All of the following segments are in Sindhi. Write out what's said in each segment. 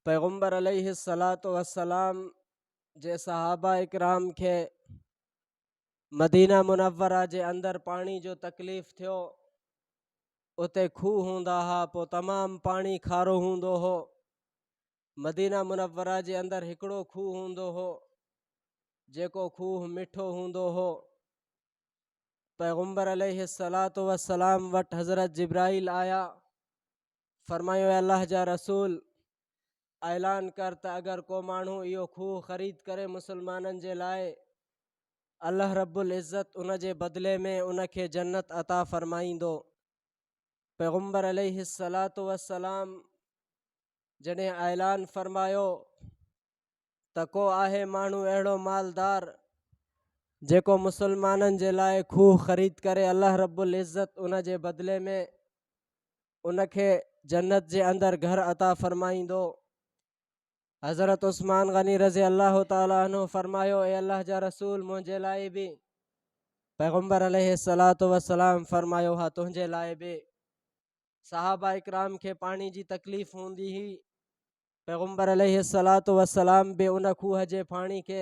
پيغمبر عليه الصلوة والسلام جي صحابه اڪرام کي مدينه منوره جي اندر پاڻي جو تڪليف ٿيو اتي کوه هوندا ها پو تمام پاڻي کارو هوندو هو مدينه منوره جي اندر هڪڙو کوه هوندو هو جيڪو کوه مٺو هوندو هو پيغمبر عليه الصلوة والسلام وٽ حضرت جبرائيل آيا فرمايو اي الله جا رسول! اعلان ڪر ته اگر ڪو ماڻهو اهو کوهه خريد ڪري مسلمانن جي لاء، الله رب العزت ان جي بدلي ۾ ان کي جنت عطا فرمائيندو. پيغمبر عليه الصلوة والسلام جڏهن اعلان فرمايو ته ڪو آهي ماڻهو اهڙو مالدار جيڪو مسلمانن جي لاء کوهه خريد ڪري الله رب العزت ان جي بدلي ۾ ان کي جنت جي اندر گهر عطا فرمائيندو حضرت عثمان غني رضي الله تعالي عنه فرمايو اي الله جا رسول منهنجي لاء به پيغمبر عليه الصلاة والسلام فرمايو ها تنهنجي لاء به صحابه اڪرام کي پاڻي جي تڪليف هوندي هئي پيغمبر عليه الصلاة والسلام به ان کوهه جي پاڻي کي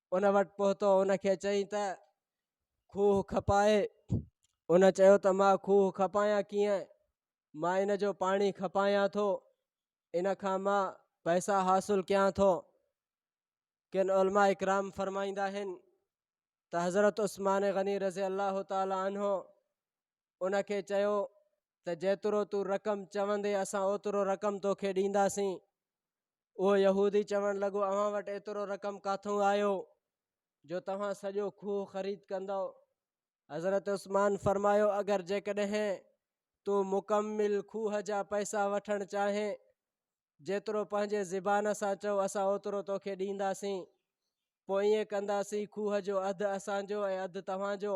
ان وٽ پهتو ان کي چيائين ته کوهه کپائي ان چيو ته مان کوهه کپايان ڪيئن مان ان جو پاڻي کپايان ٿو ان کان مان پئسا حاصل ڪيان ٿو کن علماء اڪرام فرمائيندا آهن ته حضرت عثمان غني رضي الله تعالٰي عنه ان کي چيو ته جيترو تون رقم چوندين اسان اوترو رقم توکي ڏينداسين. اهو يهودي چوڻ لڳو اوهان وٽ ايترو رقم ڪاٿئون آيو جو توهان سڄو کوهه خريد ڪندئو؟ حضرت عثمان فرمايو اگر جيڪڏهن تون مڪمل کوهه جا پئسا وٺڻ چاهين جيترو پنهنجي زبان سان چئو اسان اوترو توکي ڏينداسين. پوء ائين ڪنداسين کوهه جو اڌ اسان جو ۽ اڌ توهان جو.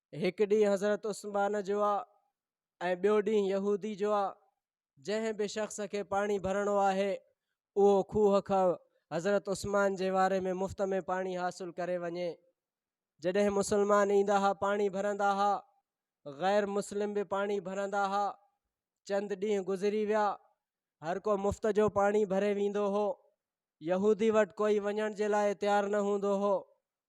هڪ ڏينهن حضرت عثمان جو آ ۽ ٻيو ڏينهن يهودي جو آ جنهن به شخص کي پاڻي ڀرڻو آهي اهو کوهه کان حضرت عثمان جي واري ۾ مفت ۾ پاڻي حاصل ڪري وڃي جڏهن مسلمان ايندا ها پاڻي ڀرندا ها غير مسلم به پاڻي ڀرندا ها چند ڏينهن گذري ويا هر ڪو مفت جو پاڻي ڀري ويندو هو يهودي وٽ ڪوئي وڃڻ جي لاء تيار نه هوندو هو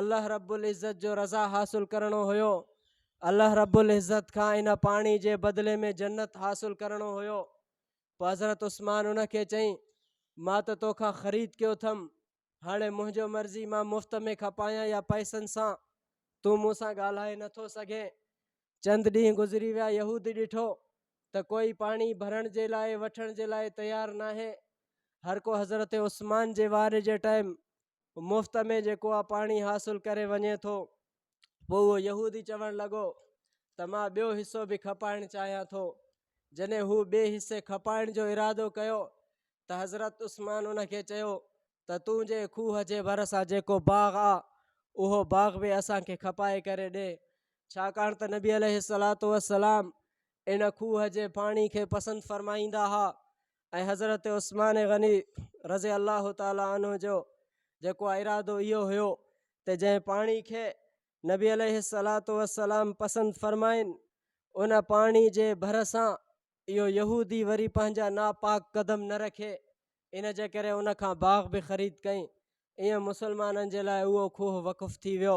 الله رب العزت جو رضا حاصل ڪرڻو هيو الله رب العزت کان ان پاڻي جي بدلي ۾ جنت حاصل ڪرڻو هيو پوء حضرت عثمان ان کي چئي مان ته توکان خريد ڪيو اٿم هاڻي منهنجو مرضي مان مفت ۾ کپايان يا پئسن سان تون مون سان ڳالهائي نٿو سگهين چند ڏينهن گذري ويا يهود ڏٺو ته ڪوئي پاڻي ڀرڻ جي لاء وٺڻ جي لاء تيار ناهي هر ڪو حضرت عثمان جي وار جي ٽائم مفت ۾ جيڪو اهو پاڻي حاصل ڪري وڃي ٿو پوء اهو يهودي چوڻ لڳو ته مان ٻيو حصو به کپائڻ چاهيان ٿو جڏهن هو ٻئي حصي کپائڻ جو ارادو ڪيو ته حضرت عثمان ان کي چيو ته تون جي کوهه جي ڀرسان جيڪو باغ آ اهو باغ به اسان کي کپائي ڪري ڏي ڇاڪاڻ ته نبي عليه الصلوة والسلام ان کوهه جي پاڻي کي پسند فرمائيندا هئا ۽ حضرت عثمان غني رضي الله تعالٰي عنه جو جيڪو ارادو اهو هيو ته جنهن پاڻي کي نبي عليه الصلاة والسلام پسند فرمائن ان پاڻي جي ڀر سان اهو يهودي وري پنهنجا ناپاڪ قدم نه رکي ان جي ڪري ان کان باغ به خريد ڪئي ائين مسلمانن جي لاء اهو کوهه وقف ٿي ويو